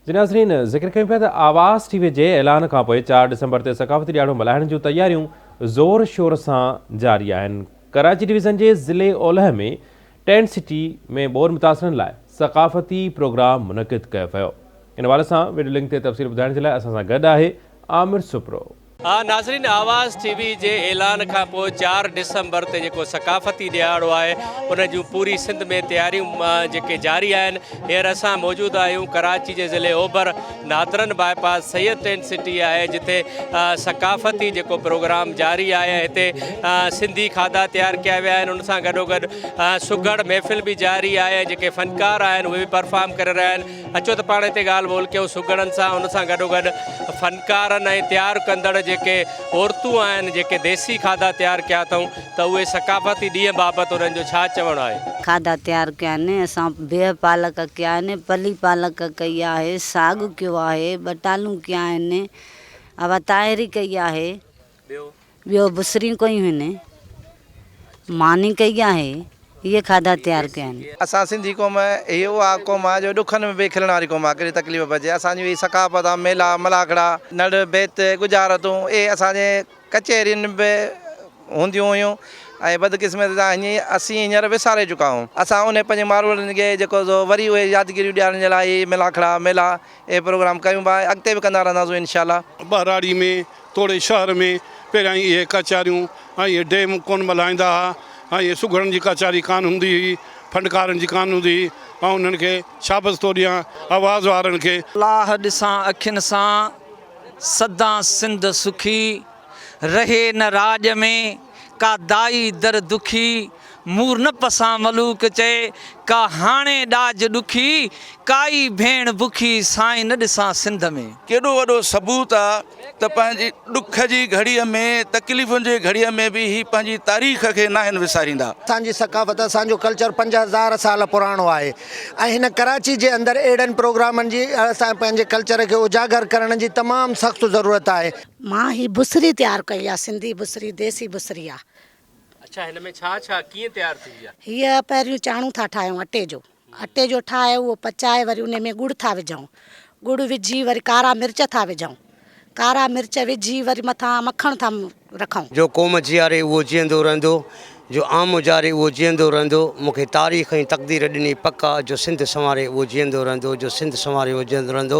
جي ناظرين ذڪر ڪيون پيا ته آواز ٽي وي جي اعلان کان پوء چار ڊسمبر تي ثقافتي ڏياڙو ملهائڻ جون تياريون زور شور سان جاري آهن ڪراچي ڊويزن جي ضلعي اولهه ۾ ٽينٽ سٽي ۾ ٻوڏ متاثرن لاء ثقافتي پروگرام منعقد ڪيو ويو ان حوالي سان وڊيو لنڪ تي تفصيل ٻڌائڻ جي لاء اسان سان گڏ آهي عامر سپرو. ها ناظرين آواز ٽي وي جي اعلان کان پوء چار ڊسمبر تي جيڪو ثقافتي ڏهاڙو آهي ان جون پوري سنڌ ۾ تياريون جيڪي جاري آهن هينئر اسان موجود آهيون ڪراچي جي ضلعي اوڀر northern bypass Syed tent city آهي جتي ثقافتي جيڪو پروگرام جاري آهي ۽ هتي سنڌي کاڌا تيار ڪيا ويا آهن ان سان گڏوگڏ سگهڙ محفل به جاري آهي ۽ جيڪي فنڪار آهن اهي به پرفارم ڪري رهيا آهن اچو ته پاڻ هتي ڳالهه ٻولهه ڪيون سگهڙن سان ان سان گڏوگڏ فنڪارن ۽ تيار ڪندڙ جيڪي عورتون آهن جيڪي ديسي کاڌا تيار ڪيا اٿئون ته اهي ثقافتي ڏينهن بابت انهن جو ڇا چوڻ آهي. کاڌا تيار ڪيا آهن اسان بيهه پالڪ ڪيا آهن پلي پالڪ ڪئي آهي ساڳ ڪيو آهي ٻٽالون ڪيا آهن اواتاهيري ڪئي آهي ٻيو بصرين ڪوئي هن ماني ڪئي آهي اهي کاڌا تيار ڪيا آهن. اسان سنڌي قوم هي اها قوم آ جو ڏکن ۾ به کلڻ واري قوم آ ڪهڙي تڪليف به اچي اسان جون هي ثقافت آ ميلا ملاکڙا نڙ بيت ڳجهارتون اهي اسان جي ڪچهرين به هونديون هيون ۽ بدقسمتي سان هيئن اسين هينئر وساري چڪا آهون اسان انهي پنهنجي ماروئڙن کي جيڪو سو وري اهي يادگيريون ڏيارڻ جي لاء هي ملاکڙا ميلا اهي پروگرام ڪيون به آهي اڳتي به ڪندا رهنداسون انشاء الله. ٻهراڙي ۾ توڙي شهر ۾ پهريائين اهي ڪچهريون ۽ اهي ڊيم ڪونه ملهائيندا ها ۽ اهي سگهڙن جي ڪچهري ڪانه هوندي هئي ڦنڊڪارن جي ڪانه هوندي هئي آئون انهن کي شابس ٿو ڏيان آواز وارن کي. لاهه ڏسان اکين سان سدان سنڌ سکي رهي نه راڄ ۾ ڪا دائي در دکي. مور نه پسان ملوڪ چئي، ڪا هاڻي ڏاج ڏکي، ڪائي ڀيڻ بکي، سائين نه ڏسان سنڌ ۾. ڪيڏو وڏو ثبوت آ ته پنهنجي ڏک جي گهڙيء ۾ تڪليفن جي گهڙيء ۾ به هي پنهنجي تاريخ کي ناهن وساريندا. اسان جي ثقافت اسان جو ڪلچر پنج هزار سال پراڻو آهي ۽ هن ڪراچي جي اندر اهڙن پروگرامن جي اسان پنهنجي ڪلچر کي اجاگر ڪرڻ جي تمام سخت ضرورت آهي. مان هي بصري تيار ڪئي آ سنڌي بصري ديسي بصري آ اڇا هن ۾ ڇا ڇا ڪيئن تيار ٿيندي آ. هيء پهريون چاڻو ٿا ٺاهيون اٽي جو اٽي جو ٺاهي اهو پچائي وري انهي ۾ ڳڙ ٿا وجهون ڳڙ وجهي وري ڪارا مرچ ٿا وجهون ڪارا مرچ وجهي وري مٿان مکڻ ٿا رکون. جو قوم جياري اهو جيئندو رهندو جو عام اجاري اهو جيئندو رهندو مون کي تاريخ ۽ تقدير ڏني پڪ آ جو سنڌ سنواري اهو جيئندو رهندو جو سنڌ سنواري اهو جيئندو رهندو.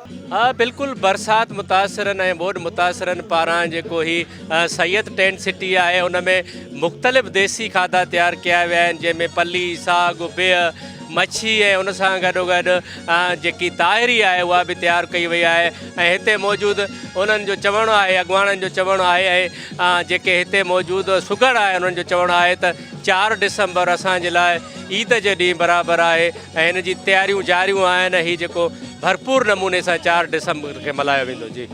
ها بلڪل برسات متاثرن ۽ ٻوڏ متاثرن پاران جيڪو هي سيد ٽينٽ سٽي آهي ان ۾ مختلف ديسي کاڌا تيار ڪيا ويا آهن جنهن ۾ پلي، ساڳ، بيهه، مڇي ۽ ان سان گڏو گڏ جيڪي تاهري آهي اها به تيار ڪئي وئي آهي ۽ هتي موجود انهن جو چوڻ آهي اڳواڻن جو چوڻ آهي ۽ جيڪي هتي موجود سگهڙ آهي انهن جو چوڻ آهي ته چار ڊسمبر اسان جي لاء عيد جي ڏينهن برابر آهي ۽ ان جي تياريون جاريون آهن ۽ هي جيڪو ڀرپور نموني سان چار ڊسمبر کي ملهايو ويندو جي.